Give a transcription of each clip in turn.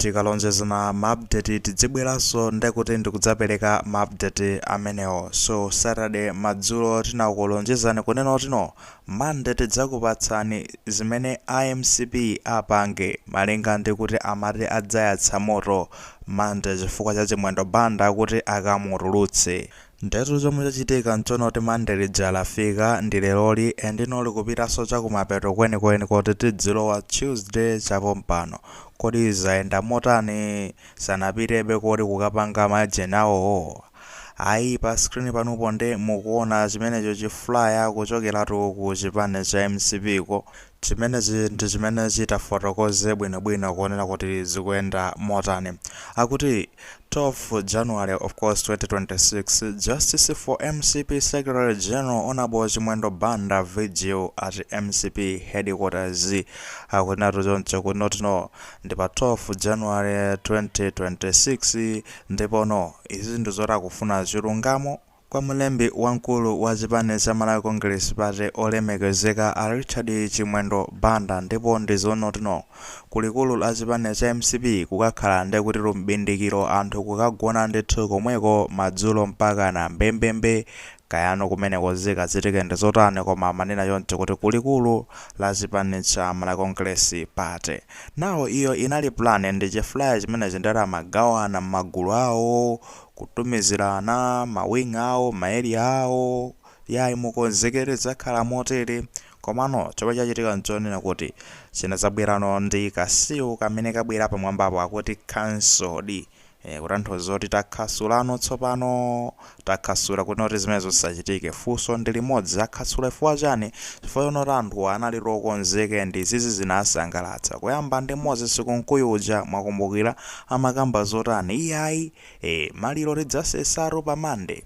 Tikalonjezana ma update tidzibweranso ndi kuti ndikudzapereka ma update amenewo so Saturday madzulo tinakulonjezani kunena kuti no Monday tidzakupatsani zimene a mcp apange malinga ndi kuti amati adzayatsa moto Monday chifukwa cha Chimwendo Banda kuti akamutulutse. Ndetu zomwe zachitika nchonoti monday lija lafika ndi leroli and no likupitanso chakumapeto kwenikweni koti tidzilowa tuesday chapompano kodi zayenda motani sanapitebe kuti kukapanga majeni awowo ayi pa screen panupa nde mukuona chimenecho chi flyer kuchokeratu ku chipani cha mcp ko Chimenechi ndi chimene chitafotokoze bwinobwino kuonera kuti zikuyenda motani. Akuti 12 January of course 2026, Justice for mcp Secretary General Honorable Chimwendo Banda vigil at mcp headquarters. Akunenatu choncho kunoti no ndi pa 12 January 2026 ndipo no. Izi ndi zoti akufuna chilungamo. Kwa mlembi wamkulu wa chipani cha Malawi Congress Party olemekezeka a Richard Chimwendo Banda ndipo ndi zonoti no ku likulu la chipani cha mcp kukakhala nde kutitu m'bindikiro anthu kukagona ndithu komweko madzulo mpakana mbembembe kayano kumeneko zikachitike ndi zotani koma amanena choncho kuti ku likulu la chipani cha Malawi Congress Party now iyo inali plan ndi chi flyer chimenechi nde amagawana m'magulu awo kutumizirana ma wing awo ma area awo yayi mukonzekere zakhala motere komano chomwe chachitika nchonena kuti chinadzabwerano ndi ka seal kamene kabwera pamwambapo akuti cancelled eh, kutanthauza kuti takhansulano tsopano takhansula kunoti zimenezo zisachitike funso ndi limodzi akhansula chifukwa chani chifukwa chonoti anthuwa anali okonzeka ndi izizi zinasangalatsa kuyamba ndi moses kunkuyu uja mwakumbukira amakamba zotani iyayi ee maliro tidzasesatu pa monday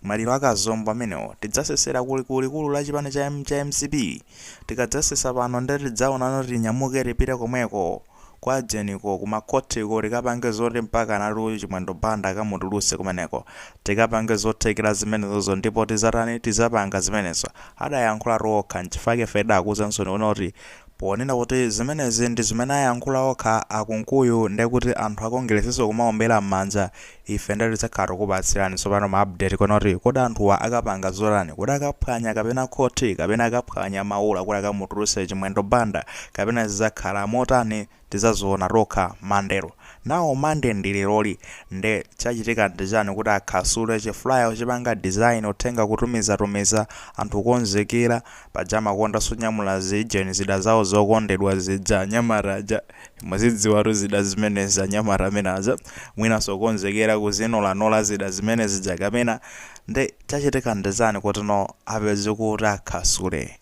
maliro a Kazombo amenewo tidzasesera ku ku likulu la chipani cha cha mcp tikadzasesa pano nde tidzaonano tinyamuke tipite komweko kwa ujeniko ku makhoti ko tikapange zoti mpakanatu chimwendo banda akamutulutse kumeneko tikapange zothekera zimenezozo ndipo tizatani tizapanga zimenezo adayankhulatu okha nchifukwa chake ife tidakuuzansoni kunoti Ponena kuti zimenezi ndi zimene ayankhula okha a Kunkuyu ndekuti anthu a Kongilesiso kumaombera m'manja, ife nde tinati tidzakhala tikupatsirani tsopano ma update kuona kuti kodi anthuwa akapanga zotani, kodi akaphwanya kapena khothi kapena akaphwanya maula kuti akamutulutse Chimwendo Banda kapena zidzakhala motani? tizaziona tokha monday now monday ndi leroli nde chachitika ndi chani kuti akhasule chi flyer kuchipanga design uthenga kutumiza tumiza anthu kukonzekera paja amakonda sonyamula ziijeni zida zawo zokondedwa zija anyamata aja muzidziwatu zida zimenezi anyamata amene aja mwinaso kukonzekera kuzinolanola zida zimene zija kapena nde chachitika ndi chani kuti no apeze kuti akhasule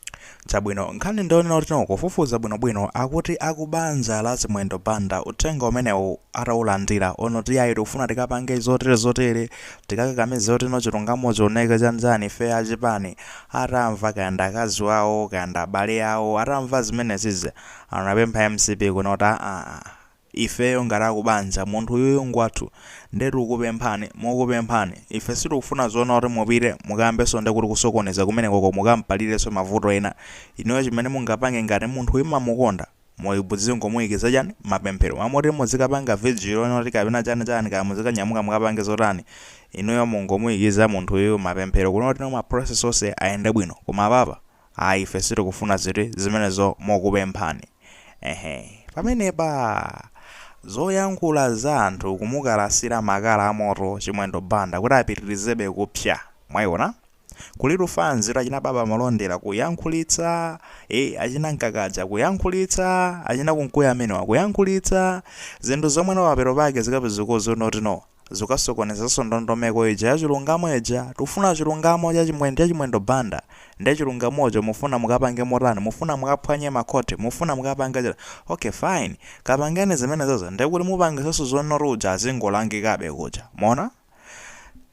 Chabwino nkhani ndiyonena kuti no kufufuza bwino bwino akuti akubanja la chimwendo banda uthenga umenewu ataulandira ona kuti yayi tikufuna tikapange zotere zotere tikakakamize kuti no chilungamo chioneke chanichani ife achipani atamva kaya ndi akazi wawo kaya ndi abale awo atamva zimenezija anapempha mcp kunena kuti aa Ifeyo ngati akubanja munthu uyuyu ngwathu nde tikukupemphani mokupemphani ife sitikufuna zonena kuti mupite mukambenso nde kuti kusokoneza kumenekoko mukampalirenso mavuto ena inuyo chimene mungapange ngati munthuyi mmamukonda muzingomuikiza chani mapemphero mmalo moti muzikapanga vigil ona kuti kapena chani chani kaya muzikanyamuka mukapange zotani inuyo mungomuikiza munthuyu mapemphero kunena kuti ma process onse ayende bwino koma apapa Ayi ife sitikufuna ziti zimenezo mokupemphani eeh pamenepa zoyankhula za anthu kumukalasira makala amoto chimwendo banda kuti apitirizebe kupsa mwaiona kulitu fanzitu achina baba malondera kuyankhulitsa ee achina nkakaja kuyankhulitsa achina kunkuyu amenewa kuyankhulitsa zinthu zomwe mapeto pake zikapezeka zonena kuti no Zikasokonezanso ndondomeko ija ya chilungamo ija, tikufuna chilungamo cha chimwendo Banda, nde chilungamocho mufuna mukapange motani, mufuna mukaphwanye ma court, mufuna mukapange chani, ok fine, kapangeni zimenezozo ndekuti mupangitsanso zonena kuti uja azingolangikabe kuja, mwaona?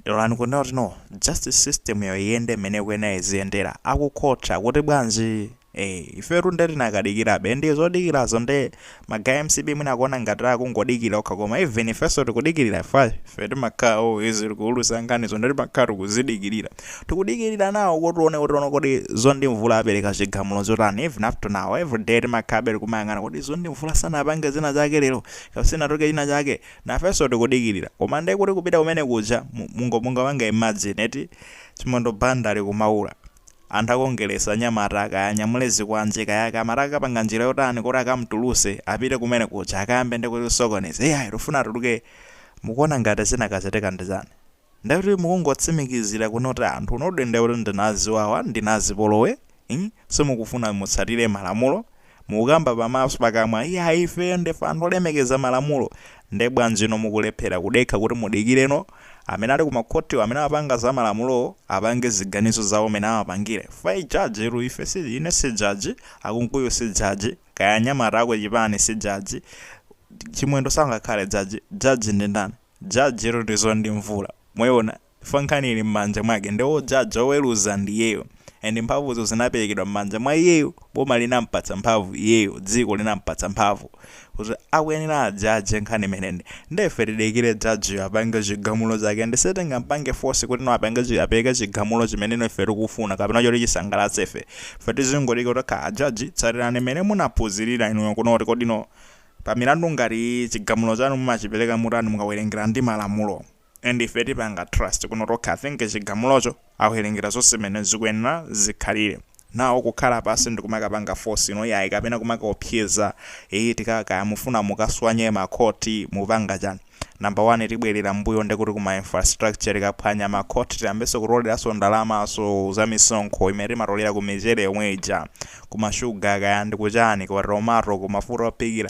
Lolani kunena kuti no, justice system yo iyende mmene ikuyenera iziyendera, aku court akuti bwanji? Eee ifetu nde tikadikirabe ndi zodikirazo nde magaye a mcp mwina akuona ngati akungodikira okha koma even ifenso tikudikirira chifukwa ife timakhala always tikuulutsa nkhanizo nde timakhala tikuzidikirira tikudikirira nawo kuti tione kuti no kodi zondi mvula apereka chigamulo chotani even up to now everyday timakhalabe tikumayang'ana kodi zondi mvula sanapange zina zake lero kapena sinatuluke china chake nafenso tikudikirira koma nde kuti kupita kumene kuja mu- mungo mungapange imagine eti chimwendo banda ali kumaula Anthu akongeresi anyamata kaya anyamule zikwanje kaya akamatha akapanga njira yotani kuti akamtuluse apite kumene kuja akayambe nde kusokoneza iyayi tufuna atuluke mukuona ngati chingakachitike ndi chani nde kuti mukungotsimikizira kunena kuti anthu inudi nde kuti ndinu aziwawa ndinu azipolowe mm simukufuna mutsatire malamulo Mukukamba pamaso, pakamwa iya ifeyo ndife anthu olemekeza malamulo nde bwanjino mukulephera kudekha kuti mudikireno amene ali kumakhotiwo amene amapanga za malamulowo apange ziganizo zawo mene amapangire chifukwa judge tu ife si ine si judge a Kunkuyu si judge kaya anyamata a kuchipani si judge Chimwendo sangakhale judge judge ndi ndani judge tu ndi Zondi Mvula mwayiona Chifukwa nkhani ili mmanja mwake nde ojaja, oweruza ndi iyeyo and mphamvuzo zinaperekedwa mmanja mwa iyeyo, boma linampatsa mphamvu iyeyo, dziko linampatsa mphamvu kuti akuyenera ajaje nkhani imeneyi nde ife tidikire judge yo apange chigamulo chake and sitingampange force kuti no apange chi apereke chigamulo chimene no ife tikufuna kapena choti chisangalatse ife, ife tizingoti tokha a judge tsatirani mmene munaphunzirira inuyo kunoti kodi no pa milandu ngati iyi chigamulo chanu mumachipereka motani mukawerengera ndi malamulo. and ife tipanga trust kunoti okay I think chigamulocho akuwerengera zonse mmene zikuyenera zikhalire now kukhala pansi ndikumakapanga force no iyayi kapena kumakaopseza eeh tika kaya mufuna mukaswanye ma court mupanga chani number one tibwelera mbuyo ndekuti ku ma infrastructure tikaphwanya ma court tiyambenso kutoleranso ndalamazo za misonkho imene timatolera ku michere yomwe ija ku ma sugar kaya ndi kuchani ku tomato ku mafuta ophikira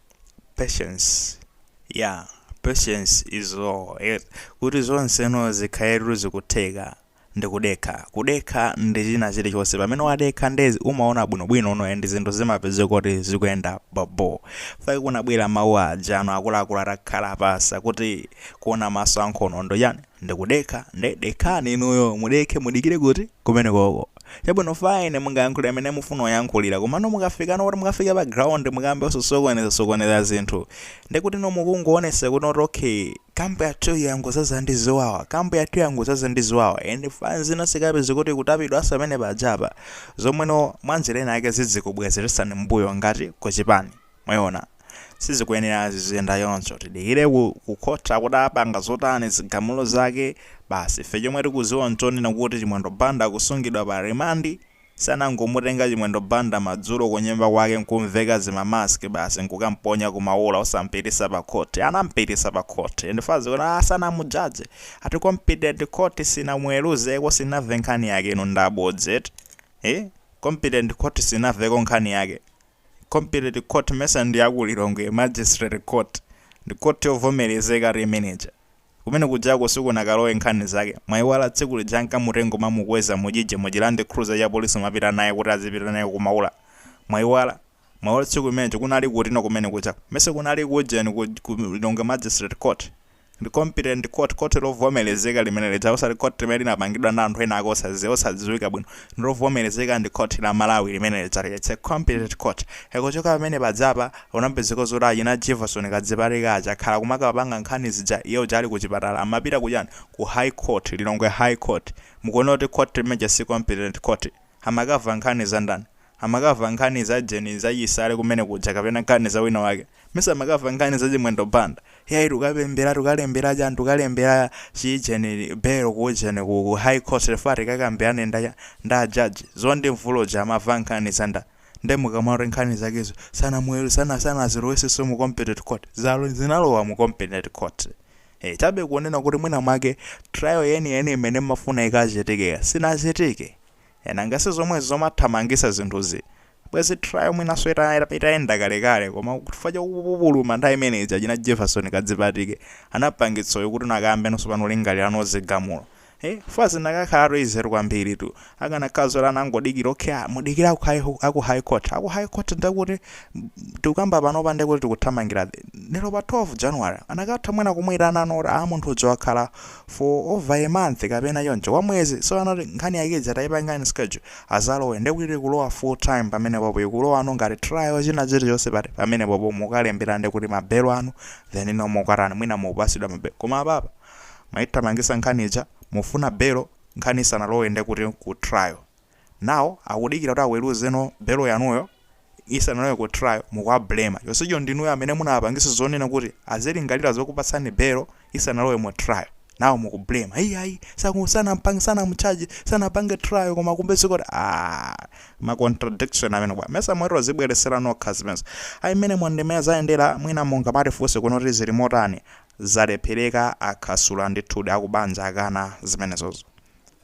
Patience yeah patience is all eh, kuti zonseno zikhale kuti zikutheka ndi kudekha kudekha ndi china chilichonse pamene wadekha nde zi umaona bwinobwino no and zinthu zimapezeka kuti zikuyenda bobo nchifukwa chake kunabwera mawu aja ano akuluakulu atakhala pansi kuti kuona maso ankhono ndi chani Ndikudekha nde dekhani inuyo mudekhe mudikire kuti? Kumenekoko. Chabwino fine mungayankhulire mmene mufuna kuyankhulira komano mukafikano poti mukafika pa ground mukayambe zosokoneza sokoneza zinthu ndekutino mukungoonetsa kutino kuti ok camp yathu yangozaza ndi ziwawa camp yathu yangozaza ndi ziwawa and fans ina izikapezeka kuti ikutapidwanso pamenepajapa zomweno mwanjira ina yake zizikubwezeretsani mmbuyo ngati kuchipani Mwayiona, sizikuyenera ziziyenda choncho. Tidikire ku, ku khoti kuti apanga zotani, zigamulo zake. Basi ife chomwe tikudziwa n'chonena kuti Chimwendo Banda akusungidwa pa rimandi. Sanangomutenga Chimwendo Banda madzulo kunyumba kwake n'kum'veka zima mask basi n'kukam'ponya ku Maula osam'pititsa pa khoti. Anam'pititsa pa khoti. In fact kuti a, sanamujadge. Ati competent court sinamuweruzeko, sinamve nkhani yake. Inu ndabodza eti? Hii? Competent court sinamveko nkhani yake? Competent court mesa ndi ya ku Lilongwe magistrate court ndi court yovomerezekatu imene ija. Kumene kujako sikunakalowa nkhani zake. Mwaiwala tsiku lija ankamutenga nkumamukweza mu jiji mu chi land cruiser ya police kumapita naye kuti azipita naye ku maula. Mwaiwala? Mwaiwala tsiku limenelija kunali kutino kumene kuja. Mesa kunali ku ujeni ku ku Lilongwe magistrate court. ndi competent court, khoti lovomerezeka limene lija, osati khoti limene linapangidwa ndi anthu ena ake osadziwa, osadziwika bwino, ndi lovomerezeka ndi khoti la Malawi limene lija lija, it's a competent court. E kuchoka pamene paja apa, kunapezeka zoti achina Jefferson Kadzipatike aja akhala kumakapanga nkhani zija iye uja ali ku chipatala, amapita ku chani, ku High Court, Lilongwe High Court. Mukuona kuti khoti limene lija si competent court? Amakava nkhani za ndani? Amakava nkhani za ujeni za chisale kumene kuja kapena nkhani za wina wake? Mesa amakava nkhani za chimwendo banda? Yayi tukapembela tukalembela chani tukalembela chi jeni belo ku ujeni ku ku high court chifukwa tikakambilane nda nda judge zondiwe mvula uja amava nkhani za nda nde mukamati nkhani zakezo sanamuwelu sana sanaziloweseso mu competent court zalo zinalowa mu competent court ee chabe kunena kuti mwina mwake trial yeni yeni imene mmafuna ikachitike sinachitike Nanga sizomwezi zomathamangisa zinthuzi bwezi trial mwinaso itayenda kalekale koma chifukwa chakupupuluma nthawi imene ija achina Jefferson kadzipatike anapangitsa uyu kuti nde akayambenso panopo kulingaliranso zigamulo ee chifukwa zinakakhalatu easy tu kwambiri tu akanakhala zoti anangodikira ok mudikire aku high aku high court aku high court ndekuti tikukamba panopa ndekuti tikuthamangira lero pa 12 January anakatha mwina kumuitana no kuti aa munthu uja wakhala for over a month kapena choncho kwa mwezi so anati nkhani yake ija atayipangano schedule azalowe nde kuti kulowa full time pamene popo ikulowano ngati trial china chilichonse pati pamene popo mukalembera nde kuti mabelo anu then no mukatani mwina mukupasidwa mabelo koma apapa maithamangisa nkhani ija mufuna belo nkhani isanalowe nde kuti ku trial now akudikira kuti aweluze no belo yanuyo isanalowe ku trial mukuwa blamer chonsecho ndinuyo amene munawapangisa zonena kuti azilingalira zokupatsani belo isanalowe mu trial now muku blamer ayi ayi saku sanampange sanamutchaje sanapange trial koma kodi si kuti ah ma contradiction amenewa mesa mwadzibweretsera nokha zimenezo ayi mmene mwa ndi mmene zayendera mwina mungamatifunse kuno kuti zili motani zalephereka akhasula ndithudi akubanja akana zimenezozo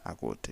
akuti